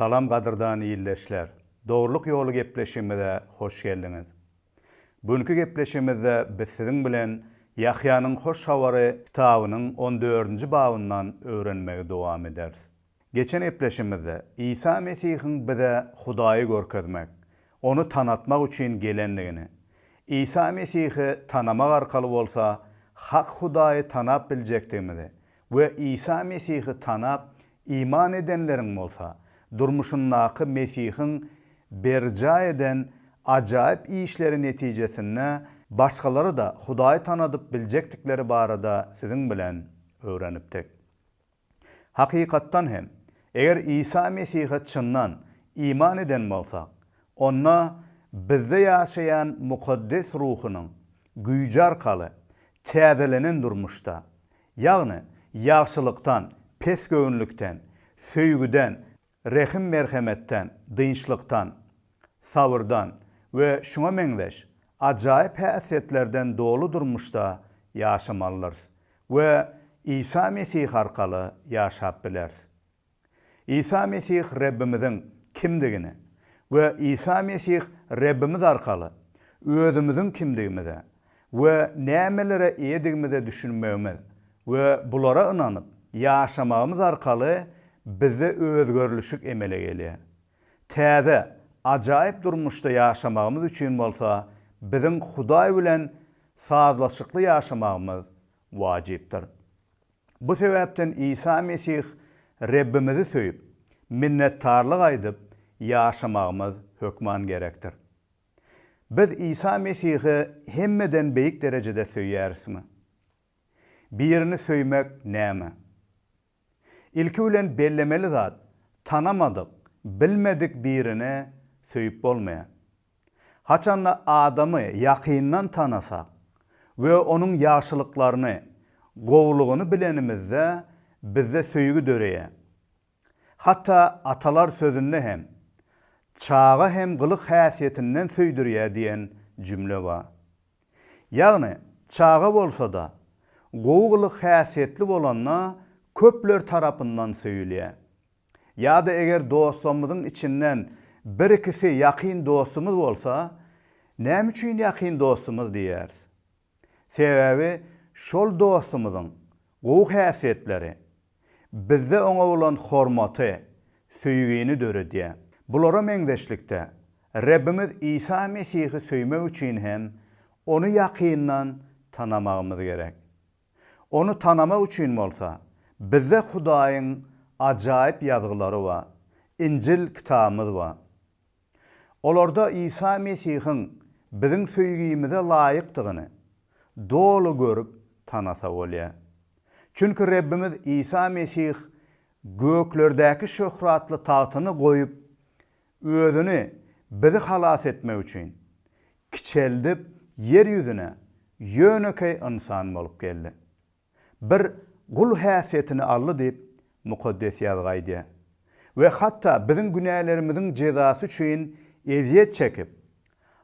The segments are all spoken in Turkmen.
Salam gadyrdan ildeşler! Dogrulyk ýoly gepleşigimize hoş geldiňiz. Bu günki gepleşigimizde biz siziň bilen Ýahýanyň Hoş Habary kitabynyň on dördünji babyndan öwrenmegi dowam ederis. Geçen gepleşigimizde Isa Mesihiň bize Hudaýy görkezmek, Ony tanatmak üçin gelendigini, Isa Mesihi tanamak arkaly bolsa hak Hudaýy tanap biljekdigimizi we Isa Mesihi tanap, iman edenleriň bolsa, durmuşyndaky Mesihiň berjaý eden ajaýyp işleri netijesinde başgalary-da Hudaýy tanadyp biljekdikleri barada siziň bilen öwrenipdik. Hakykatdan hem, eger Isa Mesihe çyndan iman eden bolsak, onda bizde ýaşaýan Mukaddes Ruhunyň güýji arkaly täzelenen durmuşda Ýagny, ýagşylykdan, pesgöwünlikden, söýgüden, rehim-merhemetden, dynçlykdan, sabyrdan we şuňa meňzeş ajaýyp häsiýetlerden doly durmuşda ýaşamalydyrys we Isa Mesih arkaly ýaşap bileris. Isa Mesih Rebbimiziň kimdigini we Isa Mesih Rebbimiz arkaly özümiziň kimdigimize we nämelere eýedigimize düşünmegimiz we bulara ynanyp ýaşamagymyz arkaly bizde özgerilişik emele gelýär. Täze, ajaýyp durmuşda ýaşamagymyz üçin bolsa biziň Hudaý bilen sazlaşykly ýaşamagymyz wajypdyr. Bu sebäpden Isa Mesih Rebbimizi söýüp, minnetdarlyk aýdyp ýaşamagymyz hökman gerekdir. Biz Isa Mesihi hemmeden beýik derejede söýýärismi? Birini söýmek näme? Ilki bilen bellemeli zat, tanamadyk, bilmedik birini söýüp bolmaýar. Haçanda adamy ýakyndan tanasak we onuň ýagşylyklaryny, gowulygyny bilenimizde bizde söýgi döreýär. Hatda atalar sözünde hem, Çaga hem gylyk-häsiýetinden söýdürýär diýen jümle bar. Ýagny, çaga bolsa-da, gowy gylyk-häsiýetli bolanda köpler tarapyndan söýülýär. Ýa-da eger dostlarymyzyň içinden bir-ikisi ýakyn dostumyz bolsa, näme üçin ýakyn dostumyz diýýäris? Sebäbi şol dostumyzyň gowy häsiýetleri bizde oňa bolan hormaty, söýgini döredýär. Bulara meňzeşlikde, Rebbimiz Isa Mesihi söýmek üçin hem Ony ýakyndan tanamagymyz gerek. Ony tanamak üçin bolsa, bizde Hudaýyň ajaýyp Ýazgylary bar, Injil kitabymyz bar. Olarda Isa Mesihiň biziň söýgimize laýykdygyny doly görüp, tanasa bolýar. Çünki Rebbimiz Isa Mesih göklerdäki şöhratly tagtyny goýup, Özüni bizi halas etmek üçin, kiçeldip ýer ýüzüne ýönekeý ynsan bolup geldi. Bir gul häsiýetini aldy diýip, Mukaddes Ýazgy aýdýar. We hatda biziň günälerimiziň jezasy üçin ezýet çekip,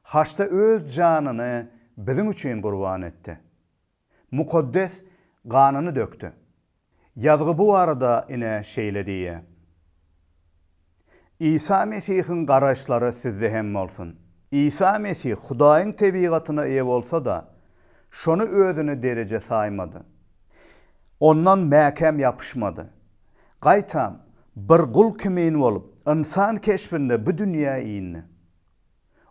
haçda öz janyny biziň üçin gurban etdi. Mukaddes ganyny dökdi. Ýazgy bu barada ine şeýle diýýär. Isa Mesihiň garaýyşlary sizde hem bolsun. Isa Mesih Hudaýyň tebigatyna eýe bolsa-da, şony özüne dereje saýmady. Ondan mäkäm ýapyşmady. Gaýtam, bir gul kimin bolup, ynsan keşbinde bu dünýä indi.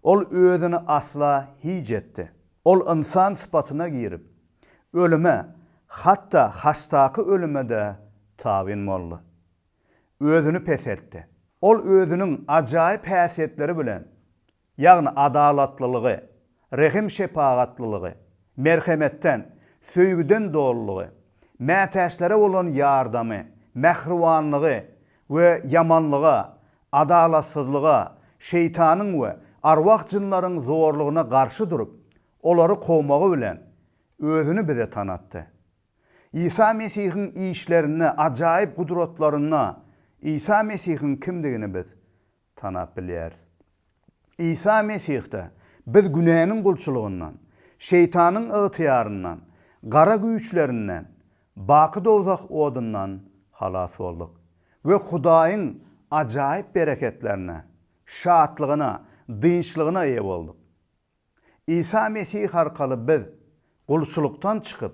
Ol özüni asla hiç etdi. Ol ynsan sypatyna girip, ölüme, hatda haçdaky ölüme-de tabyn boldy. Özüni peseltdi. Ol özüniň ajaýyp häsiýetleri bilen, ýagny adalatlylygy, rehim-şepagatlylygy, merhemetden, söýgüden dolulygy, mätäçlere bolan ýardamy, mähribanlygy we ýamanlyga, Adalatsyzlyga, şeýtanyň we arwah-jynlaryň zorlugyna garşy durup, olary kowmagy bilen Özüni bize tanatdy. Isa Mesihiň işlerinde, ajaýyp gudratlarynda Isa Mesihiň kimdigini biz tanap bilýäris. Isa Mesihde biz günäniň gulçulygyndan, Şeýtanyň ygtyýaryndan, gara güýçlerinden, baky dowzah odundan halas bolduk we Hudaýyň ajaýyp bereketlerine, şatlygyna, dynçlygyna eýe bolduk. Isa Mesih arkaly biz gulçulykdan çykyp,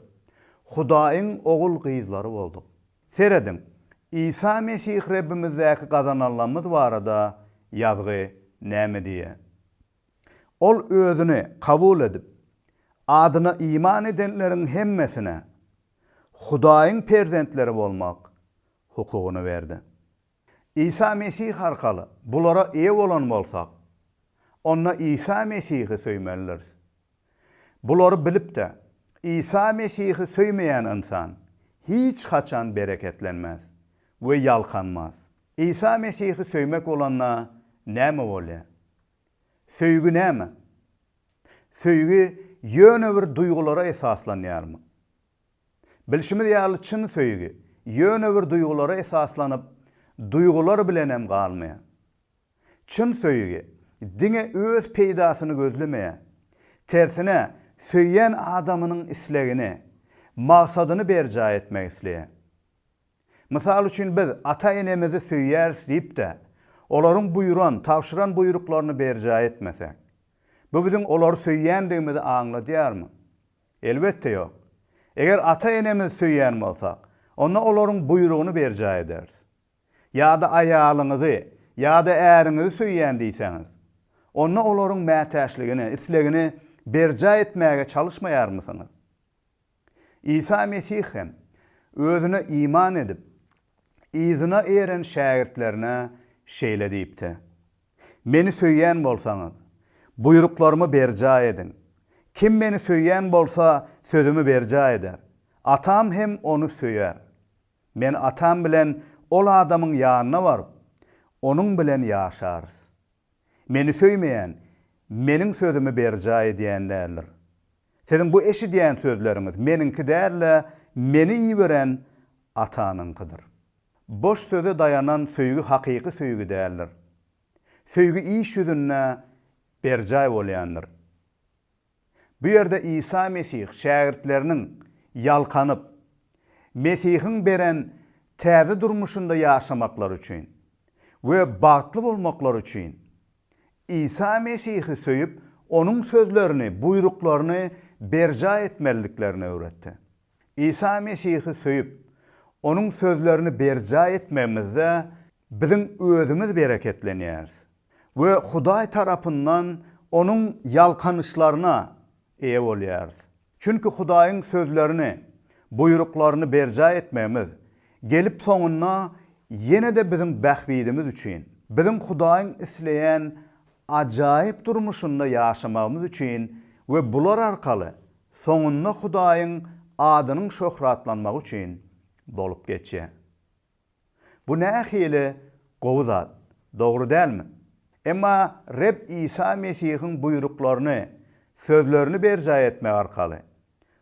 Hudaýyň ogul-gyzlary bolduk. Serediň, Isa Mesih Rebbimizdäki gazananlarymyz barada Ýazgy näme diýýär? Ol Özüni kabul edip, adyna iman edenleriň hemmesine Hudaýyň perzentleri bolmak hukugyny berdi. Isa Mesih arkaly bulara eýe bolan bolsak, onda Isa Mesihi söýmelidiris. Bulary bilip-de, Isa Mesihi söýmeýän ynsan hiç haçan bereketlenmez we ýalkanmaz. Isa Mesihi söýmek bolanda näme bolýar? Söýgi näme? Söýgi ýöne bir duýgulara esaslanýarmy? Bilşimiz ýaly çyn söýgi ýöne bir duýgulara esaslanyp, duýgular bilenem galmaýar. Çyn söýgi diňe öz peýdasyny gözlemeýär. Tersine, söýýän adamynyň islegini, maksadyny berjaý etmek isleýär. Mysal üçin biz ata-enemizi söýýäris diýip-de, olaryň buýran, tabşyran buýruklaryny berjaý etmesek, bu biziň olary söýýändigimizi aňladýarmy? Elbetde ýok. Eger ata-enemizi söýýän bolsak, onda olaryň buýrugyny berjaý ederis. Ýa-da aýalyňyzy ýa-da äriňizi söýýän diýseňiz, onda olaryň mätäçligini, islegini berjaý etmäge çalyşmaýarmysyňyz? Isa Mesih hem Özüne iman edip, yzyna eren şägirtlerine şeýle diýipdi. Meni söýýän bolsaňyz, buýruklarymy berjaý ediň. Kim Meni söýýän bolsa, sözümi berjaý eder. Atam hem ony söýer. Men Atam bilen ol adamyň ýanyna baryp, onuň bilen ýaşarys. Meni söýmeýän Meniň sözümi berjaý edýän däldir. Siziň bu eşidýän sözleriňiz meniňki däl-de, meni iberen Atanyňkydyr. Boş söze daýanan söýgi hakyky söýgi däldir. Söýgi iş ýüzünde berjaý bolýandyr. Bu ýerde Isa Mesih şägirtleriniň ýalkanyp, Mesihiň beren täze durmuşynda ýaşamaklary üçin we bagtly bolmaklary üçin Isa Mesihi söýüp, onuň sözlerini, buýruklaryny berjaý etmeliliklerini öwretdi. Isa Mesihi söýüp, onuň sözlerini berjaý etmegimizde biziň özümiz bereketlenýäris we Hudaý tarapyndan onuň ýalkanyşlaryna eýe bolýarys. Çünki Hudaýyň sözlerini, buýruklaryny berjaý etmegimiz, gelip soňunda ýene-de biziň bähbidimiz üçin, biziň Hudaýyň isleýän ajaýyp durmuşynda ýaşamagymyz üçin we bular arkaly soňunda Hudaýyň adynyň şöhratlanmagy üçin bolup geçýär. Bu nähili gowy zat, dogry dälmi? Emma Reb Isa Mesihiň buýruklaryny, sözlerini berjaý etmek arkaly,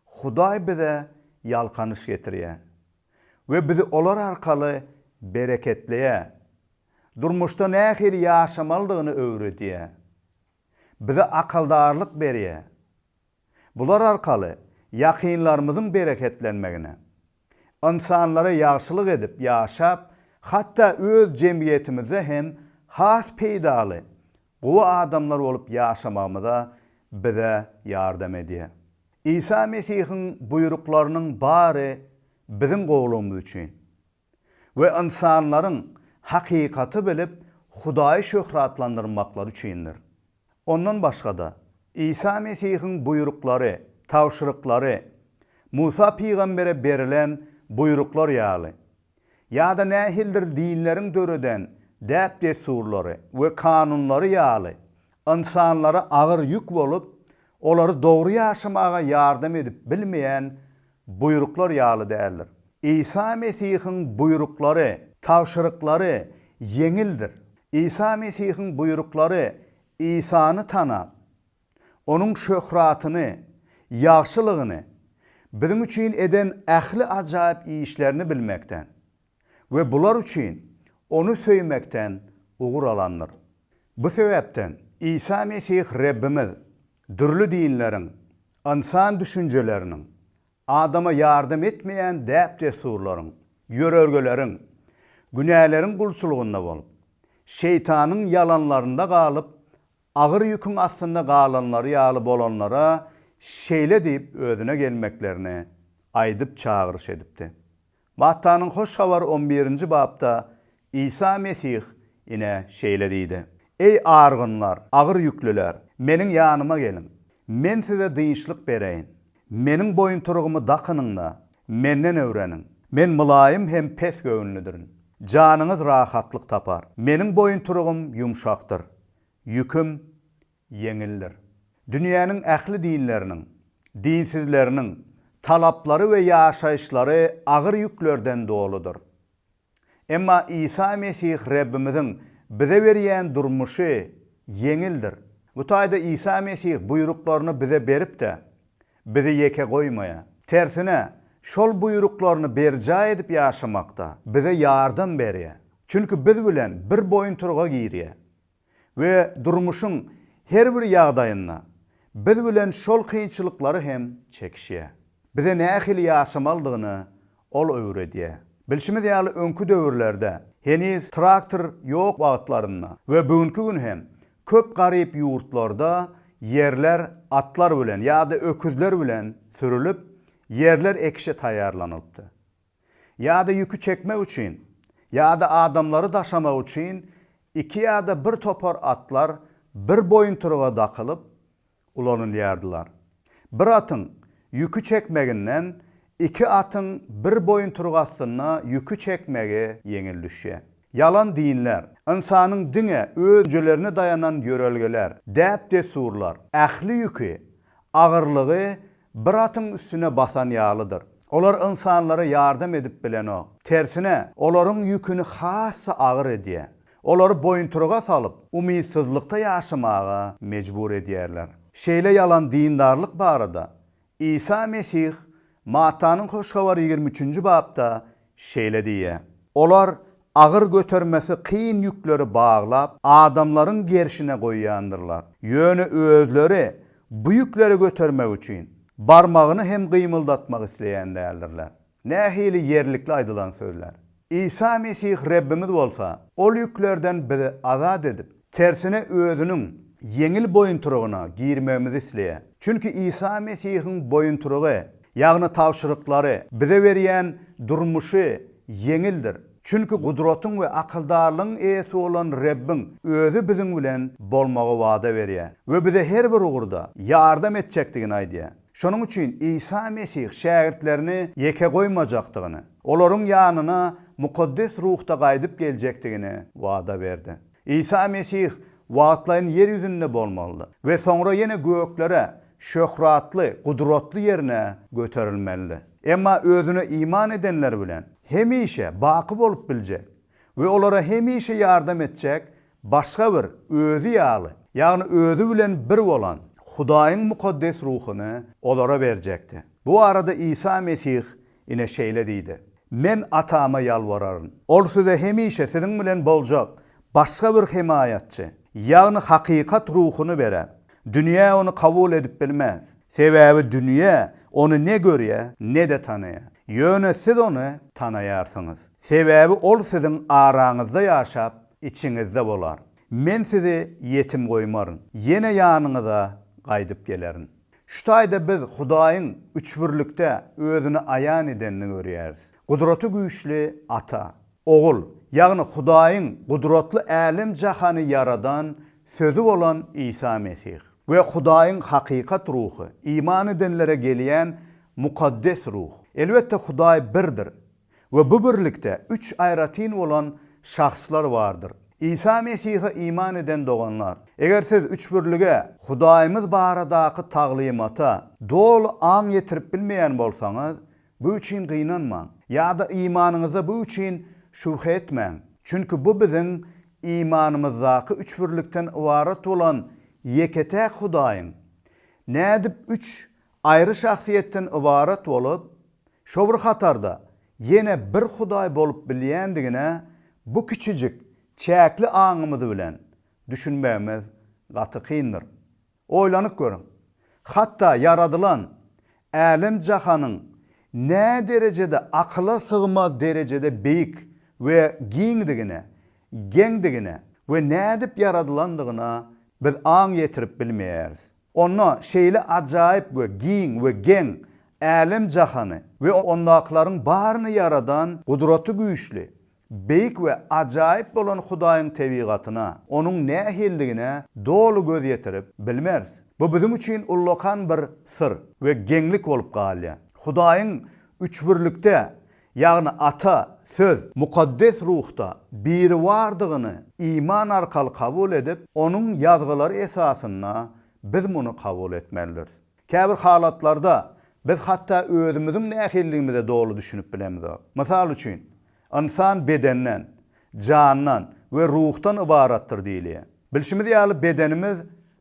Hudaý bize ýalkanyş getirýär we bizi olar arkaly bereketleýär, durmuşda nähili ýaşamalydygyny öwredýär, bize akaldarlyk berýär, Bular arkaly ýakynlarymyzyň bereketlenmegine, ynsanlara ýagşylyk edip ýaşap, hatda öz jemgyýetimizde hem has peýdaly, gowy adamlar bolup ýaşamagymyza bize ýardam edýär. Isa Mesihiň buýruklarynyň bary biziň gowulygymyz üçin. we ynsanlaryň hakykaty bilip Hudaýy şöhratlandyrmaklary üçindir. Ondan başga-da, Isa Mesihiň buýruklary, tabşyryklary, Musa pygambere berilen buýruklar ýaly, ýa-da nähilidir dinleriň döreden däp-dessurlary we kanunlary ýaly ynsanlara agyr ýük bolup, olary dogry ýaşamaga ýardam edip bilmeýän Buýruklar ýaly däldir. Isa Mesihiň buýruklary, tabşyryklary ýeňildir. Isa Mesihiň buýruklary Isany tanap, Onuň şöhratyny, ýagşylygyny, biziň üçin eden ähli ajaýyp işlerini bilmekden we bular üçin Ony söýmekden ugur alandyr. Bu sebäpden Isa Mesih Rebbimiz dürli dinleriň, Ynsan düşünjeleriniň, adama ýardam etmeýän däp-dessurlaryň, ýörelgeleriň, günäleriň gulçulygynda bolup, şeýtanyň ýalanlarynda galyp, agyr ýüküň astynda galanlary ýaly bolanlara şeýle diýip özüne gelmeklerini aýdyp çagyryş edipdi, Mattanyň Hoş Habary on birinji bapda Isa Mesih ine şeýle diýdi, Eý, argynlar, agyr ýüklüler, Meniň ýanyma geliň, Men size dynçlyk bereýin. Meniň boýuntyrygymy dakynyň-da, Menden öwreniň. Men mylaýym hem pes göwünlidirin. Janyňyz rahatlyk tapar. Meniň boýuntyrygym ýumşakdyr, ýüküm ýeňildir. Dünýäniň ähli dinleriniň, dinsizleriniň, talaplary we ýaşaýyşlary agyr ýüklerden doludyr. Emma Isa Mesih Rebbimiziň bize berýän durmuşy ýeňildir. Bu taýda Isa Mesih buýruklaryny bize berip-de, bizi ýeke goýmaýar. Tersine, şol buýruklaryny berjaý edip ýaşamakda bize ýardam berýär. Çünki biz bilen bir boýuntyryga girýär. we durmuşyň her bir ýagdaýynda biz bilen şol kynçylyklary hem çekişýär. Bize nähili ýaşamalydygyny Ol öwredýär. Bilşimiz ýaly öňki döwürlerde, heniz traktor ýok wagtlarynda we bugünki gün hem köp garyp ýurtlarda ýerler atlar bilen ýa-da öküzler bilen sürülip, ýerler ekişe taýýarlanylypdy. ýa-da ýüki çekmek üçin, ýa-da adamlary daşamak üçin iki ýa-da bir topar atlar bir boýuntyryga dakylyp ulanylýardylar. Bir atyň ýüki çekmeginden iki atyň bir boýuntyryk astynda ýüki çekmegi ýeňil düşýär. Ýalan dinler, ynsanyň diňe özüjelerine daýanan ýörelgeler, däp-dessurlar, ähli ýüki, agyrlygy Bir atyň üstüne basan ýalydyr. Olar ynsanlara ýardam edip bilenok. Tersine, olaryň ýüküni has-da agyr edýär. Olary boýuntyryga salyp, umytsyzlykda ýaşamaga mejbur edýärler. Şeýle ýalan dindarlyk barada Isa Mesih Mattanyň Hoş Habary ýigrimi üçünji bapda Şeýle diýýär, Olar agyr götermesi kyn ýükleri baglap, adamlaryň gerşine goýýandyrlar. Ýöne özleri bu ýükleri götermek üçin, barmagyny hem gymyldatmak isleýän däldirler. Nähili ýerlikli aýdylan sözler! Isa Mesih Rebbimiz bolsa, ol ýüklerden bizi azat edip, Tersine özüniň ýeňil boýuntyrygyna girmegimizi isleýär. Çünki Isa Mesihiň boýuntyrygy, ýagny tabşyryklary, bize berýän durmuşy ýeňildir. Çünki gudratyň we akyldarlygyň eýesi bolan Rebbiň özi biziň bilen bolmagy wada berýär we bize her bir ugurda ýardam etjekdigini aýdýar. Şonuň üçin Isa Mesih şägirtlerini ýeke goýmajakdygyny, olaryň ýanyna mukaddes ruhda gaýdyp geljekdigini wada berdi. Isa Mesih wagtlaýyn ýer ýüzünde bolmalydy we soňra ýene göklere, şöhratly, gudratly ýerine göterilmelidi. Emma Özüne iman edenler bilen hemişe baky bolup biljek we olara hemişe ýardam etjek başga bir Özi ýaly, ýagny Özi bilen bir bolan Hudaýyň Mukaddes Ruhuny olara berjekdi. Bu barada Isa Mesih Ine şeýle diýdi, Men Atama ýalbararyn. Ol size hemişe siziň bilen boljak başga bir Hemaýatçy, ýagny hakykat Ruhuny berer. Dünýä ony kabul edip bilmez. Sebäbi dünýä ony ne görýär, ne-de tanaýar. Ýöne siz ony tanaýarsyňyz. Sebäbi ol siziň araňyzda ýaşap, içiňizde bolar. Men sizi ýetim goýmaryn. Ýene ýanyňyza gaýdyp gelerin. Şu taýda biz Hudaýyň üçbirlikde özüni aýan edenini görýäris. Gudraty güýçli Ata, Ogul, ýagny Hudaýyň gudratly älem-jahany ýaradan Sözi bolan Isa Mesih we Hudaýyň hakykat Ruhy, iman edenlere gelýän Mukaddes Ruh. Elbetde Hudaý birdir, we bu birlikde üç aýratyn bolan şahslar bardyr. Isa Mesihe iman eden doganlar, eger siz üçbirlige, Hudaýymyz baradaky taglymata, doly aň ýetirip bilmeýän bolsaňyz, bu üçin gynanmaň, ýa-da imanyňyza bu üçin şübhe etmäň, çünki bu biziň imanymyzdaky üçbirlikden ybarat bolan ýeke-täk Hudaýyň nädip üç Aýry şahsyýetden ybarat bolup, şo bir hatarda ýene bir Hudaý bolup bilýändigine bu kiçijik, çäkli aňymyz bilen düşünmegimiz gaty kyndyr. Oýlanyp görüň, hatda ýaradylan älem-jahanyň näderejede akyla sygmaz derejede beýik we giňdigine, geňdigine we nädip ýaradylandygyna biz aň ýetirip bilmeýäris. Onda şeýle ajaýyp we giň we geň älem-jahany we ondakylaryň baryny ýaradan Gudraty güýçli, beýik we ajaýyp bolan Hudaýyň tebigatyna, Onuň nähilidigine doly göz ýetirip bilmeris. Bu biziň üçin ullakan bir syr we geňlik bolup galýar. Hudaýyň üçbirlikde ýagny Ata, Söz, Mukaddes Ruhda Biribardygyny iman arkaly kabul edip, Onuň Ýazgylary esasynda biz muny kabul etmelidiris. Käbir halatlarda biz hatda özümiziň nähilligimize doly düşünip bilemizok. Mysal üçin, Ynsan bedenden, jandan we ruhdan ybaratdyr diýilýär. Bilşimiz ýaly, bedenimiz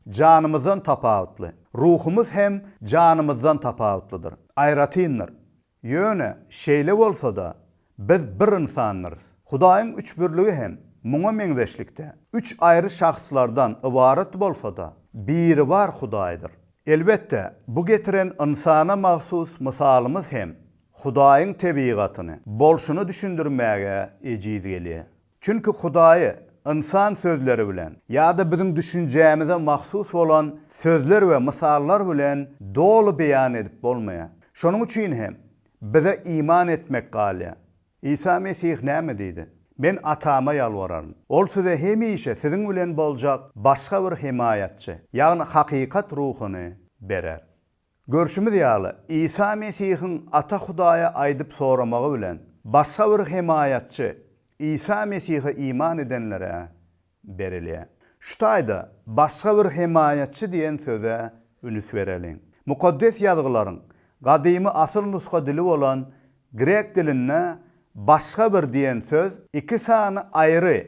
janymyzdan tapawutly. Ruhumyz hem janymyzdan tapawutlydyr, aýratyndyr. Ýöne, şeýle bolsa-da, biz bir ynsandyrys. Hudaýyň üçbirligi hem muňa meňzeşlikde, üç aýry şahslardan ybarat bolsa-da, Biribar Hudaýdyr. Elbetde, bu getiren ynsana mahsus mysalymyz hem Hudaýyň tebigatyny, bolşuny düşündirmäge ejiz gelýär. Çünki Hudaýy ynsan sözleri bilen ýa-da biziň düşünjämize mahsus bolan sözler we mysallar bilen doly beýan edip bolmaýar. Şonuň üçin hem bize iman etmek galýar. Isa Mesih näme diýdi? Men Atama ýalbararyn. Ol size hemişe siziň bilen boljak başga bir hemaýatçy, ýagny hakykat ruhuny berer. Görşümiz ýaly, Isa Mesihiň Ata Hudaýa aýdyp soramagy bilen, başga bir hemaýatçy Isa Mesihe iman edenlere berilýär. Şu taýda başga bir hemaýatçy diýen söze ünüs bereliň. Mukaddes Ýazgylaryň gadymy asyl nusga dili bolan grek dilinde başga bir diýen söz iki sany aýry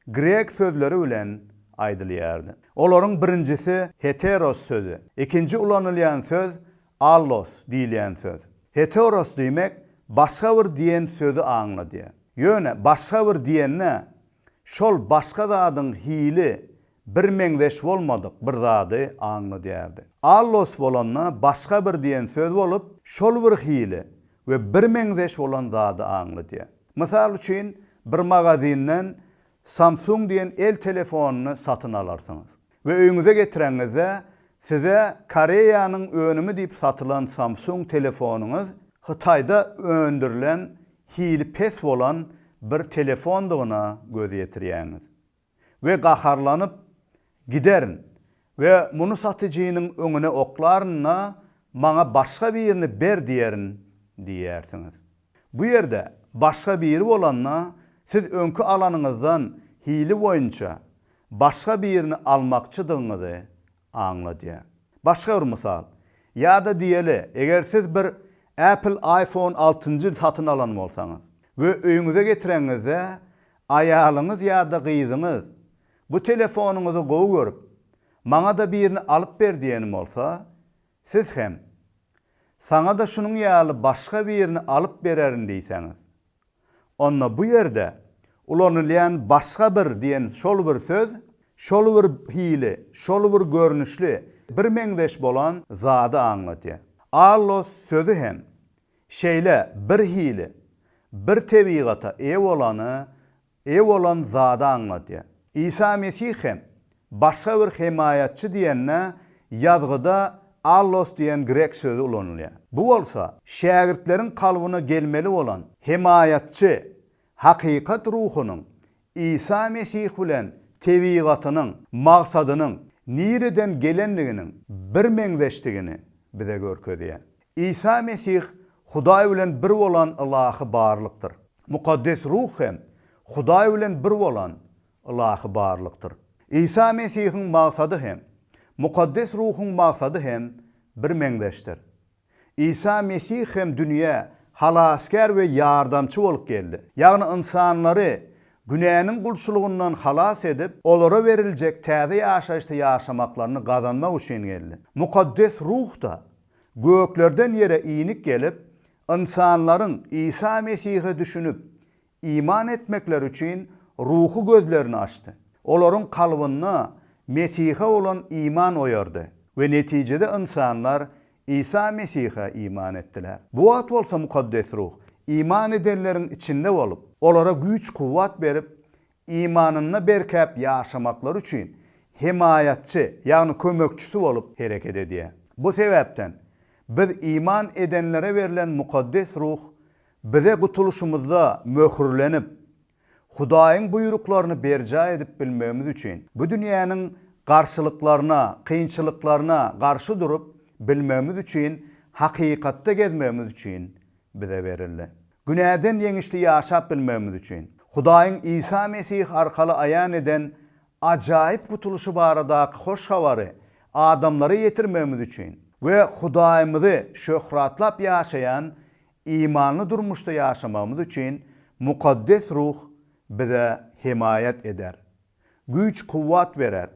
grek sözleri bilen aýdylýardy. Olaryň birinjisi heteros sözi, ikinji ulanylýan söz allos diýilýän söz. Heteros diýmek başga bir diýen sözi aňladýar. Ýöne başga bir diýende şol başga zadyň hili birmeňzeş bolmadyk bir zady aňladýardy. Allos bolanda başga bir diýen söz bolup, şol bir hili we birmeňzeş bolan zady aňladýar. Mysal üçin, bir magazinden Samsung diýen el telefonyny satyn alarsyňyz we öýüňize getireňizde, size Koreýanyň önümi diýip satylan Samsung telefonyňyz Hytaýda öndürilen hili pes bolan bir telefondygyna göz ýetirýäňiz. we gaharlanyp, giderin we muny satyjynyň öňüne oklaryn-da, Maňa başga birini ber diýerin diýersiňiz. Bu ýerde başga biri bolanda, siz öňki alanyňyzdan hili boýunça başga birini almakçydygyňyzy aňladýar. Başga bir mysal. Ýa-da diýeli, eger siz bir Apple iPhone altynjy satyn alan bolsaňyz we öýüňize getireňizde, aýalyňyz ýa-da gyzyňyz bu telefonyňyzy gowy görüp, maňa-da birini alyp ber diýen bolsa, siz hem, Saňa-da şunuň ýaly başga birini alyp bererin diýseňiz, onda bu ýerde ulanylýan başga bir diýen şol bir söz şol bir hili, şol bir görnüşli, birmeňzeş bolan zady aňladýar. Allos sözi hem şeýle bir hili, bir tebigata eýe bolany, eýe bolan zady aňladýar. Isa Mesih hem Başga bir hemaýatçy diýende ýazgyda allos diýen grek sözi ulanylýar. Bu bolsa, şägirtleriň kalbyna gelmeli bolan hemaýatçy, hakykat ruhunyň Isa Mesih bilen tebigatynyň maksadynyň nireden gelendiginiň birmeňzeşdigini bize görkezýär. Isa Mesih Hudaý bilen bir bolan ylahy barlykdyr. Mukaddes Ruh hem Hudaý bilen bir bolan Ylahy barlykdyr. Isa Mesihiň maksady hem, Mukaddes Ruhuň maksady hem birmeňzeşdir. Isa Mesih hem dünýä Halasgär we Ýardamçy bolup geldi. Ýagny ynsanlary günäniň gulçulygyndan halas edip, olara beriljek täze ýaşaýyşda ýaşamaklaryny gazanmak üçin geldi. Mukaddes Ruh-da göklerden ýere inik gelip, ynsanlaryň Isa Mesihe düşünip, iman etmekleri üçin ruhy gözlerini açdy. Olaryň kalbynda Mesihe bolan iman oýardy we netijede ynsanlar Isa Mesihe iman etdiler. Bu wagt bolsa Mukaddes Ruh iman edenleriň içinde bolup, olara güýç-kuwwat berip, imanynda berkäp ýaşamaklary üçin hemaýatçy, ýagny kömekçisi bolup hereket edýär. Bu sebäpden biz iman edenlere berlen Mukaddes Ruh Bize gutulyşymyzda möhürlenip, Hudaýyň buýruklaryny berjaý edip bilmegimiz üçin, bu dünýäniň garşylyklaryna, kynçylyklaryna garşy durup bilmegimiz üçin, hakykatda gezmegimiz üçin bize berildi. Günäden ýeňişli ýaşap bilmegimiz üçin. Hudaýyň Isa Mesih arkaly aýan eden ajaýyp gutulyşy baradaky hoş habary adamlara ýetirmegimiz üçin we Hudaýymyzy şöhratlap ýaşaýan Imanly durmuşda ýaşamagymyz üçin Mukaddes Ruh bize hemaýat eder, güýç-kuwwat berer.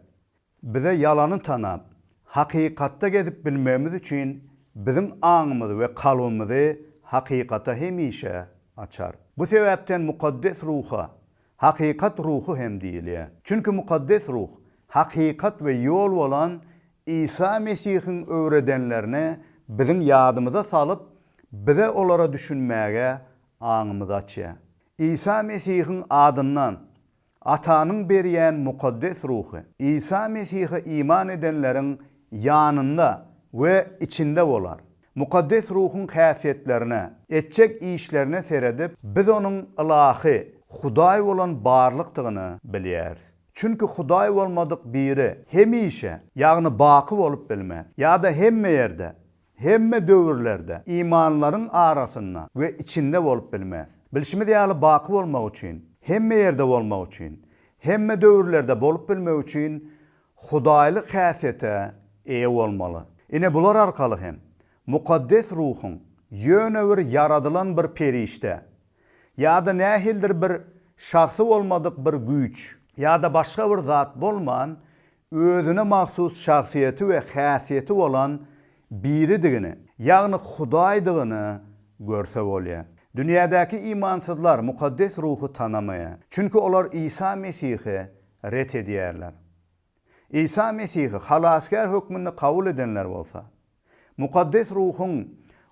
Bize ýalany tanap, hakykatda gezip bilmegimiz üçin biziň aňymyzy we kalbymyzy hakykata hemişe açar. Bu sebäpden Mukaddes Ruha Hakykat ruhy hem diýilýär. Çünki Mukaddes Ruh, hakykat we ýol bolan Isa Mesihiň öwredenlerini biziň ýadymyza salyp, bize olara düşünmäge aňymyzy açýar. Isa Mesihiň adyndan Atanyň berýän Mukaddes Ruhy Isa Mesihe iman edenleriň ýanynda we içinde bolar. Mukaddes Ruhuň häsiýetlerine, etjek işlerine seredip, biz Onuň ylahy, Hudaý bolan barlykdygyny bilýäris. Çünki Hudaý bolmadyk biri hemişe, ýagny baky bolup bilmez. Ýa-da hemme ýerde, hemme döwürlerde, imanlaryň arasynda we içinde bolup bilmez. Bilşimiz ýaly, baky bolmak üçin, hemme ýerde bolmak üçin, hemme döwürlerde bolup bilmek üçin Hudaýlyk häsiýete eýe bolmaly. Ine bular arkaly hem, mukaddes ruhuň ýöne bir ýaradylan bir perişde, ýa-da nähilidir bir şahsy bolmadyk bir güýç, ýa-da başga bir zat bolman, özüne mahsus şahsyýeti we häsiýeti bolan Biridigini, ýagny Hudaýdygyny görse bolýar. Dünýädäki imansyzlar mukaddes ruhy tanamaýar. Çünki olar Isa Mesihi ret edýärler. Isa Mesihi Halasgär hökmünde kabul edenler bolsa, Mukaddes Ruhuň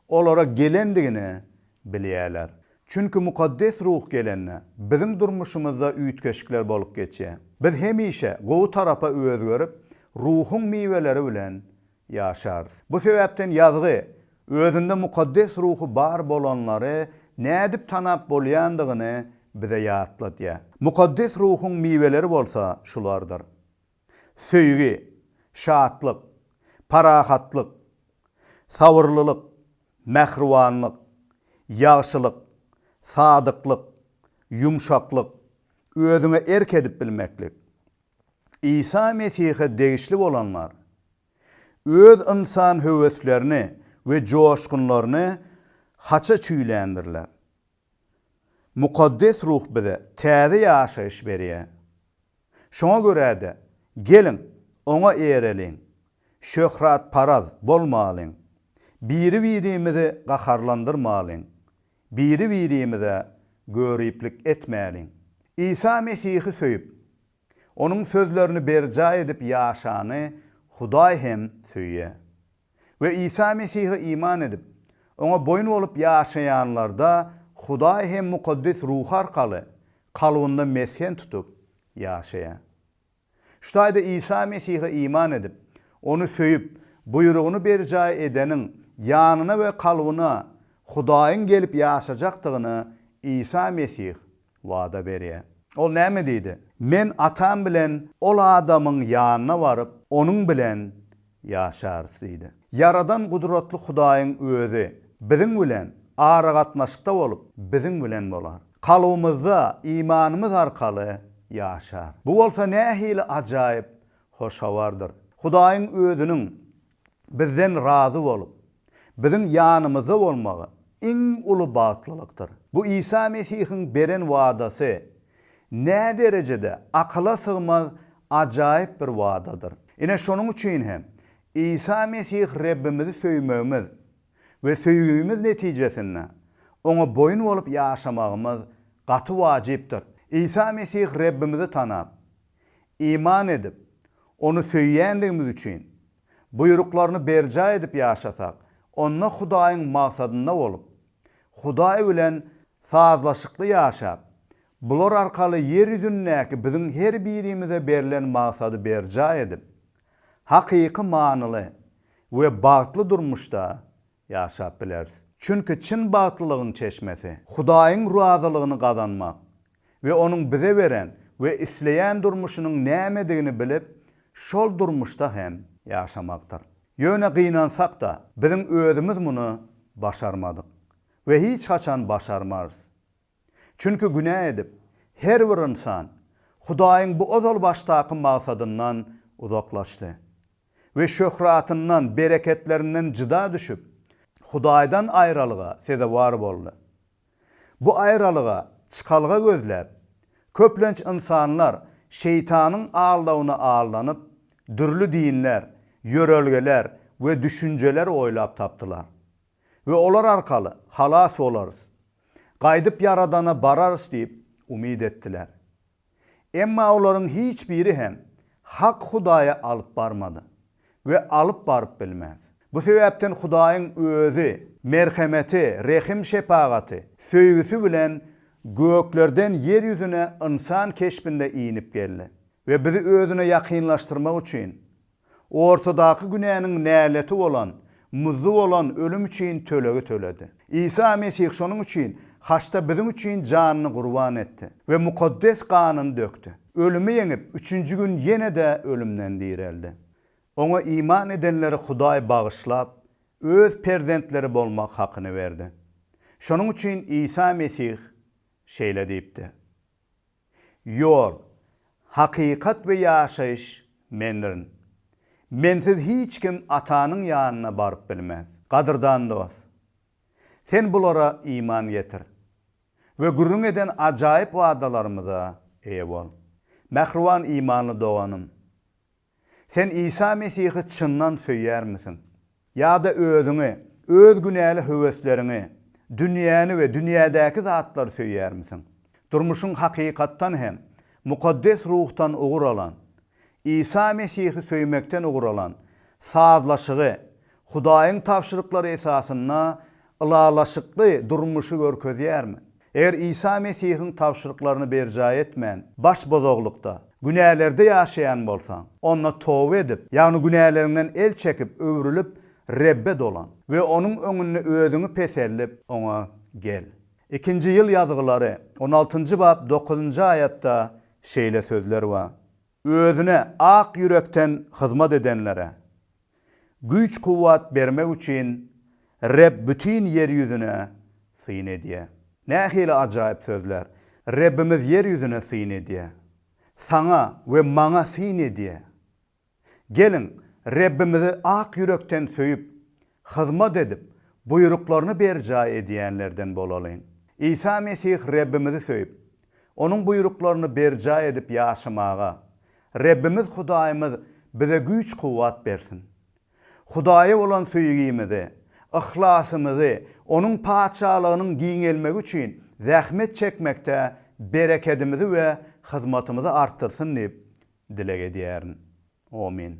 olara gelendigini bilýärler. Çünki Mukaddes Ruh gelende, biziň durmuşymyzda üýtgeşikler bolup geçýär. Biz hemişe gowy tarapa özgerip, Ruhuň miweleri bilen Ýaşarys. Bu sebäpden ýazgy, özünde mukaddes ruhy bar bolanlary nädip tanap bolýandygyny bize ýatladýar. Mukaddes ruhuň miweleri bolsa şulardyr, söýgi, şatlyk, parahatlyk, sabyrlylyk, mähribanlyk, ýagşylyk, sadyklyk, ýumşaklyk, özüňe erk edip bilmeklik, Isa Mesihe degişli bolanlar öz ynsan höweslerini we joşgunlaryny haça çüýländirler. Mukaddes Ruh bize täze ýaşaýyş berýär. Şoňa görä-de, geliň, Oňa eýereliň, şöhratparaz bolmalyň, biri-birimizi gaharlandyrmalyň, biri-birimize göriplik etmäliň. Isa Mesihi söýüp, Onuň sözlerini berjaý edip ýaşany Hudaý hem söýýär. We Isa Mesihe iman edip, Oňa boýun bolup ýaşaýanlarda Hudaý hem Mukaddes Ruhy arkaly kalbynda mesgen tutup ýaşaýar. Şu taýda Isa Mesihe iman edip, Ony söýüp, buýrugyny berjaý edeniň ýanyna we kalbyna Hudaýyň gelip ýaşajakdygyny Isa Mesih wada berýär. Ol näme diýdi? Men Atam bilen ol adamyň ýanyna baryp, onuň bilen ýaşarys diýdi. Ýaradan gudratly Hudaýyň Özi biziň bilen aragatnaşykda bolup, biziň bilen bolar. Kalbymyzda imanymyz arkaly ýaşar. Bu bolsa nähili ajaýyp hoş habardyr! Hudaýyň Özüniň bizden razy bolup, biziň ýanymyzda bolmagy iň uly bagtlylykdyr. Bu Isa Mesihiň beren wadasy näderejede akyla sygmaz ajaýyp bir wadadyr! Ine, şonuň üçin hem Isa Mesih Rebbimizi söýmegimiz we söýgimiz netijesinde Oňa boýun bolup ýaşamagymyz gaty wajypdyr. Isa Mesih Rebbimizi tanap, iman edip, Ony söýýändigimiz üçin, buýruklaryny berjaý edip ýaşasak, onda Hudaýyň maksadynda bolup, Hudaý bilen sazlaşykly ýaşap, bular arkaly ýer ýüzündäki biziň her birimize berlen maksady berjaý edip, hakyky manyly we bagtly durmuşda ýaşap bileris. Çünki çyn bagtlylygyň çeşmesi, Hudaýyň razylygyny gazanmak we Onuň bize beren we isleýän durmuşynyň nämedigini bilip, şol durmuşda hem ýaşamakdyr. Ýöne gynansak-da, biziň özümiz muny başarmadyk we hiç haçan başarmarys. Çünki günä edip, her bir ynsan Hudaýyň bu ozal başdaky maksadyndan uzaklaşdy we şöhratyndan, bereketlerinden jyda düşüp, Hudaýdan aýralyga sezewar boldy. Bu aýralyga çykalga gözläp, köplenç ynsanlar Şeýtanyň aldawyna aldanyp, dürli dinler, ýörelgeler we düşünjeler oýlap tapdylar. we olar arkaly halas bolarys, gaýdyp Ýaradana bararys diýip umyt etdiler. Emma olaryň hiç biri hem hak Hudaýa alyp barmady we alyp baryp bilmez. Bu sebäpden Hudaýyň Özi merhemeti, rehim-şepagaty, söýgüsi bilen göklerden ýer ýüzüne ynsan keşbinde inip geldi we bizi Özüne ýakynlaşdyrmak üçin ortadaky günäniň näleti bolan, muzdy bolan ölüm üçin tölegi töledi. Isa Mesih şonuň üçin haçda biziň üçin janyny gurban etdi we mukaddes ganyny dökdi. Ölümi ýeňip, üçünji gün ýene-de ölümden direldi. Oňa iman edenleri Hudaý bagyşlap, Öz perzentleri bolmak hakyny berdi. Şonuň üçin Isa Mesih şeýle diýipdi, Ýol, hakykat we ýaşaýyş Mendirin. Mensiz hiç kim Atanyň ýanyna baryp bilmez. Gadyrdan dost! Sen bulara iman getir we gürrüň eden ajaýyp wadalarymyza eýe bol. Mähriban imanly doganym! Sen Isa Mesihi çyndan söýýärmisiň? Ýa-da özüňi, öz günäli höwesleriňi, dünýäni we dünýädäki zatlary söýýärmisiň? Durmuşyň hakykatdan hem Mukaddes Ruhdan ugur alan, Isa Mesihi söýmekden ugur alan sazlaşygy, Hudaýyň tabşyryklary esasynda ylalaşykly durmuşy görkezýärmi? Eger Isa Mesihiň tabşyryklaryny berjaý etmän, baş bozaglykda, günälerde ýaşaýan bolsaň, onda toba edip, ýagny günäleriňden el çekip, öwrülip, Rebbe dolan we Onuň öňünde özüňi peseldip, Oňa gel. Ikinji ýyl ýazgylary, on altynjy bap, dokuzynjy aýatda şeýle sözler bar, Özüne ak ýürekden hyzmat edenlere güýç-kuwwat bermek üçin Reb bütin ýer ýüzüne syn edýär. Nähili ajaýyp sözler! Rebbimiz ýer ýüzüne syn edýär. Saňa we maňa syn edýär. Geliň, Rebbimizi ak ýürekden söýüp, Hyzmat edip, buýruklaryny berjaý edýänlerden bolalyň. Isa Mesih Rebbimizi söýüp, Onuň buýruklaryny berjaý edip ýaşamaga Rebbimiz Hudaýymyz bize güýç-kuwwat bersin. Hudaýa bolan söýgimizi, yhlasymyzy Onuň Patyşalygynyň giňelmegi üçin zähmet çekmekde berekedimizi we hyzmatymyzy artdyrsyn diýip dileg edýärin. Omyn.